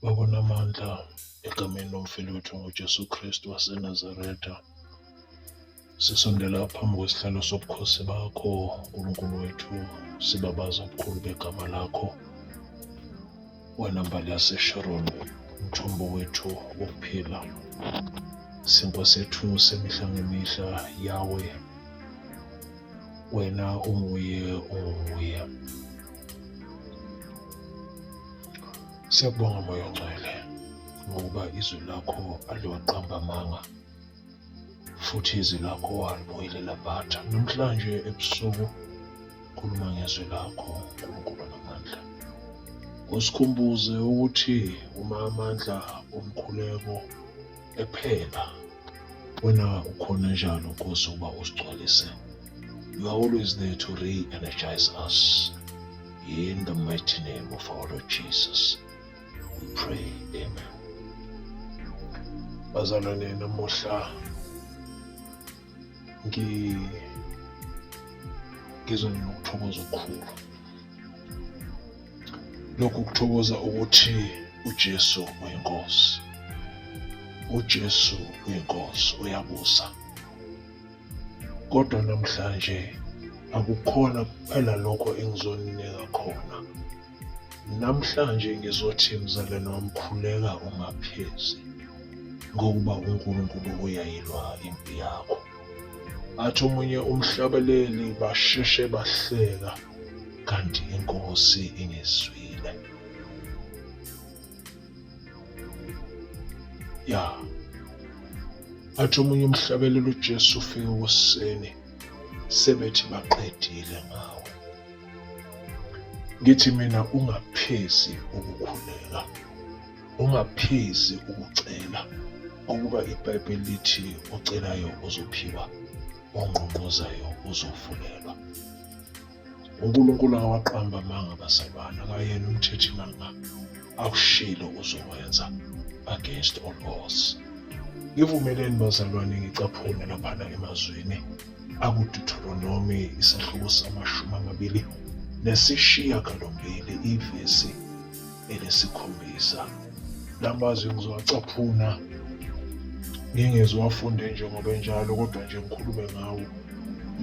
Baba onamandla, egameni lomfeli wethu ngoJesu Kristu waseNazaretha, sisondela phambi kwesihlalo sobukhosi bakho, uNkulunkulu wethu, sibabaza ubukhulu begama lakho. Wena mbali yaseSharon, umthombo wethu wokuphila. SiNkosi yethu semihla ngemihla, Yawe, wena unguye, unguye. Siyakubonga Moya Ongcwele ngokuba izwi lakho aliwaqamba amanga futhi izwi lakho walibuyelela batha. Namhlanje ebusuku khuluma ngezwi lakho uNkulunkulu namandla. Usikhumbuze ukuthi uma amandla omkhuleko ephela wena ukhona njalo nkosi uba usigcwalise you are always there to re-energize us in the mighty name of our lord jesus we pray amen bazalwane namuhla ngi ngizwe nginokuthokoza okukhulu lokhu kuthokoza ukuthi uJesu uyinkosi uJesu uyinkosi uyabusa kodwa namhlanje akukhona kuphela lokho engizoninika khona Namhlanje ngizothi mzalwane wami khuleka ungaphezi ngokuba uNkulunkulu uyayilwa impi yakho. Athi omunye umhlabeleli basheshe bahleka kanti inkosi ingizwile. Ya. Athi omunye umhlabeleli uJesu ufike ekuseni sebethi baqedile ngawo. Ngithi mina ungaphezi ukukhuleka, ungaphezi ukucela ukuba iBhayibheli lithi ocelayo uzophiwa, ongqongqozayo uzovulelwa. UNkulunkulu akawaqamba amanga abazalwane, akayena umthethi manga akushilo uzokwenza against all odds. Ngivumeleni bazalwane ngicaphune laphana emazwini akuDuteronomi isahluko samashumi amabili nesishiyagalombili ivesi elesikhombisa. La mazwi ngizowacaphuna ngingeziwafunde njengoba enjalo kodwa nje ngikhulume ngawo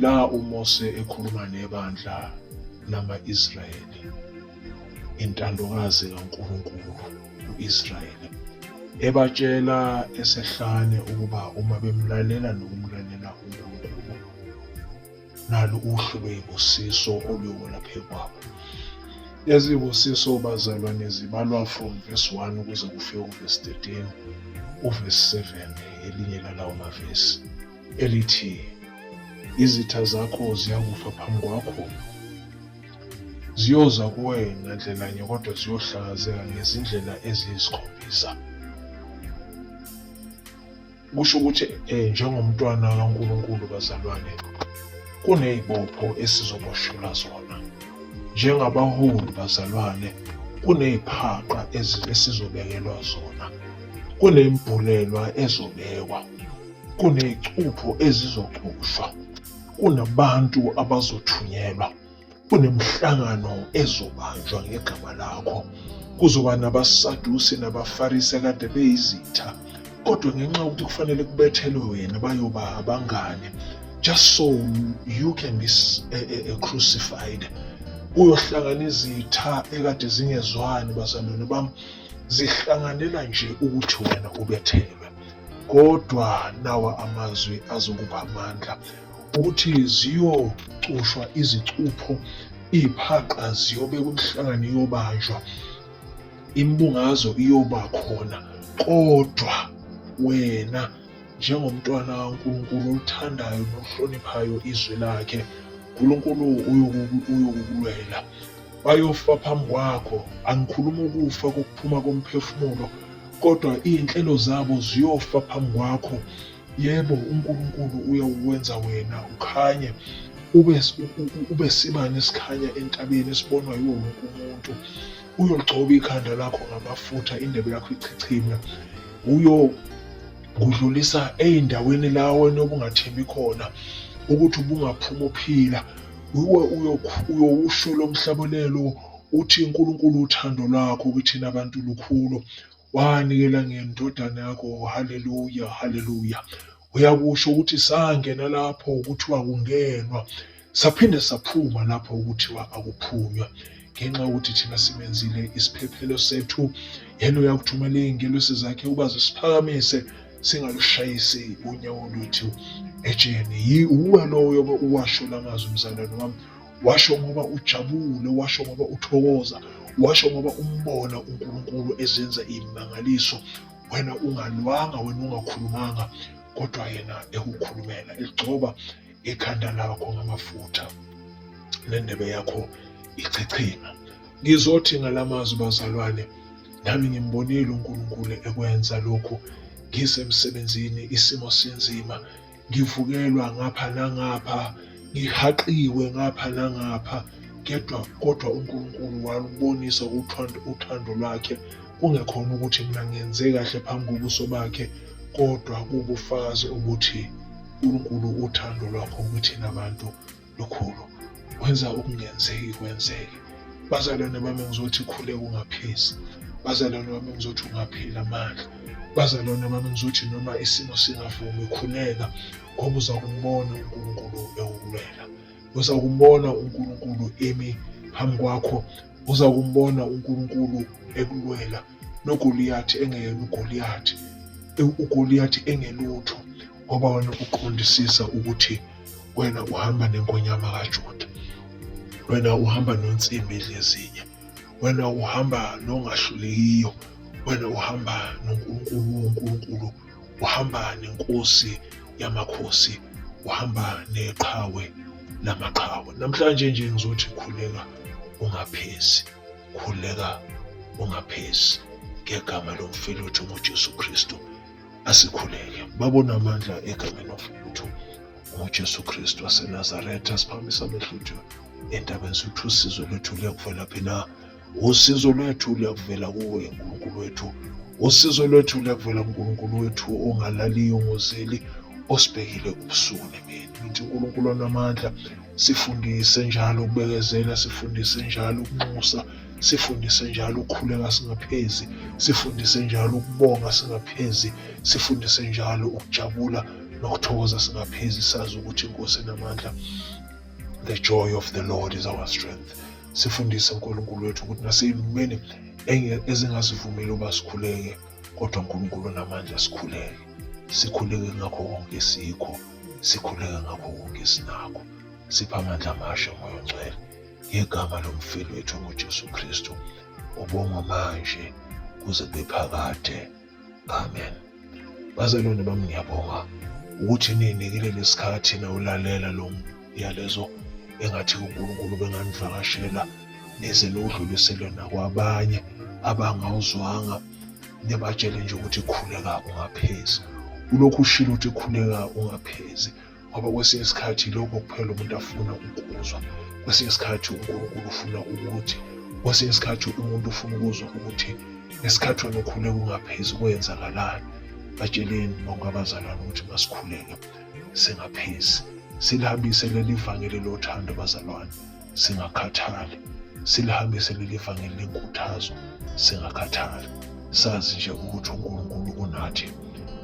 la uMose ekhuluma nebandla lama-Israyeli intandokazi kaNkulunkulu. u-Israyeli, ebatshela esehlane ukuba uma bemlalela nokumlalela uNkulunkulu, nalu uhlu lwezibusiso oluyobola phezu kwabo. Lezi zibusiso bazalwane zibalwa from verse 1 ukuze kufike uverse 13, uverse 7 elinye lalawo mavesi elithi izitha zakho ziyakufa phambi kwakho Ziyoza kuwena ndlelanye kodwa ziyohlakazeka ngezindlela eziyisikhombisa. Kusho ukuthi eh, njengomntwana kaNkulunkulu bazalwane kunezibopho esizoboshelwa zona. Njengabaholi bazalwane kuneziphaqa esizobekelwa zona. Kunembhulelwa ezobekwa. Kunezicupho ezizocushwa. kunabantu abazothunyelwa kunemihlangano ezobanjwa ngegama lakho kuzoba nabasadusi nabafarisi akade beyizitha kodwa ngenxa yokuthi kufanele kubethelwe wena bayoba abangane just so you can be eh, eh, eh, crucified kuyohlangana izitha ekade zingezwani bazalwane bami zihlanganela nje ukuthi wena ubethelwe Kodwa nawa amazwi azokupha amandla ukuthi ziyocushwa izicupho iy'phaqa ziyobekwa emhlangani iyobanjwa imbungazo iyoba khona kodwa wena njengomntwana kaNkulunkulu olithandayo nohloniphayo izwi lakhe uNkulunkulu uyokukulwela bayofa phambi kwakho angikhuluma ukufa kokuphuma komphefumulo kodwa iy'nhlelo zabo ziyofa phambi kwakho yebo uNkulunkulu uyawukwenza wena ukhanye ube ube sibani esikhanya entabeni esibonwa yiwo wonke umuntu uyogcoba ikhanda lakho ngamafutha indebe yakho ichichime uyo kudlulisa ey'ndaweni la wena obungathembi khona ukuthi ubungaphuma uphila uyowushula umhlabolelo Uthi uNkulunkulu uthando lwakho kithina bantu lukhulu wanikela ngendodana yakho haleluya haleluya uyakusho ukuthi sangena lapho kuthiwa kungenwa saphinde saphuma lapho kuthiwa akuphunywa ngenxa yokuthi thina simenzile isiphephelo sethu yena uyakuthumela iy'ngelosi zakhe uba zisiphakamise singalushayisi unyawo lwethu ejeni yiwuwe loyo uwasho la mazwi mzalwane wami washo ngoba ujabule washo ngoba uthokoza washo ngoba umbona uNkulunkulu ezenza imangaliso wena ungalwanga wena ungakhulumanga kodwa yena ekukhulumela egcoba ekhanda lakho ngamafutha nendebe yakho ichichima ngizothi ngalamazwi bazalwane nami ngimbonile uNkulunkulu ekwenza lokhu ngisemsebenzini isimo sinzima ngivukelwa ngapha nangapha ngihaqiwe ngapha nangapha kepha kodwa uNkulunkulu walubonisa uthando lwakhe kungekhona ukuthi mina ngenze kahle phambi kobuso bakhe kodwa kuwubufakazi ukuthi uNkulunkulu uthando lwakho kithina bantu Lukhulu, wenza okungenzeki kwenzeke. Bazalwane bami ngizothi khule ungaphezi. Bazalwane bami ngizothi ungapheli amandla. Bazalwane bami ngizothi noma isimo singavumi khuleka ngoba uza kumbona uNkulunkulu ewukulwela. Uza kumbona uNkulunkulu emi phambi kwakho. Uza kumbona uNkulunkulu ekulwela. nogoliyathi engeyena ugoliyathi ugoliyathi engelutho ngoba wena uqondisisa ukuthi wena uhamba nenkonyama kajuda wena uhamba nonsimbi dlezinye wena uhamba nongahlulekiyo wena uhamba nonkulunkulu wonkulunkulu uhamba nenkosi yamakhosi uhamba neqhawe namaqhawe namhlanje nje ngizothi khuleka ungaphezi Khuleka ungaphezi ngegama lomfeluthu ngoJesu Kristu. Asikhuleke. Babona amandla egameni lomfeluthu ngoJesu Kristu waseNazaretha siphakamisa amehlo ethu endabeni sithi usizo lwethu luyakuvela phi na? Usizo lwethu luyakuvela kuwe uNkulunkulu wethu. Usizo lwethu luyakuvela kuNkulunkulu wethu ongalaliyo ngozeli osibhekile ubusuku nemini. Ngithi uNkulunkulu onamandla Sifundise njalo ukubekezela, sifundise njalo ukunxusa, sifundise njalo ukukhuleka singaphezi, sifundise njalo ukubonga singaphezi, sifundise njalo ukujabula nokuthokoza singaphezi sazi ukuthi inkosi enamandla the joy of the lord is our strength sifundise unkulunkulu wethu ukuthi naseyilumeni ezingasivumeli uba sikhuleke kodwa unkulunkulu onamandla sikhuleke sikhuleke ngakho konke sikho sikhuleka ngakho konke esinakho sipha amandla amasha moya ongcwele ngegama lomfeli wethu ngojesu kristu ubongwa manje kuze kube phakade amen bazalwane bami ngiyabonga ukuthi ninikile lesikhathi nawulalela lo yalezo engathi uNkulunkulu benganivakashela nize niwudlulisele nakwabanye abangawuzwanga nibatshele nje ukuthi khuleka ungaphezi ulokhu ushilo ukuthi khuleka ungaphezi ngoba kwesinye isikhathi lokho kuphela umuntu afuna ukuzwa kwesinye isikhathi uNkulunkulu ufuna ukuthi kwesinye isikhathi umuntu ufuna ukuzwa ukuthi ngesikhathi wena ukhuleka ungaphezi kwenzakalani batsheleni bonke abazalwane ukuthi masikhuleke singaphezi silihambise leli vangeli lothando bazalwane singakhathali silihambise leli vangeli lenkuthazo singakhathali sazi nje ukuthi unkulunkulu unathi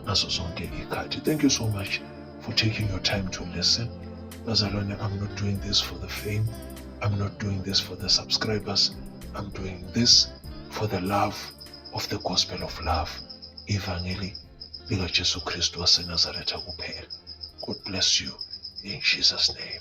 ngazo zonke ikhathi thank you so much for taking your time to listen bazalwane i'm not doing this for the fame i'm not doing this for the subscribers i'm doing this for the love of the gospel of love ivangeli likaJesu Kristu waseNazaretha kuphela. God bless you in Jesus name.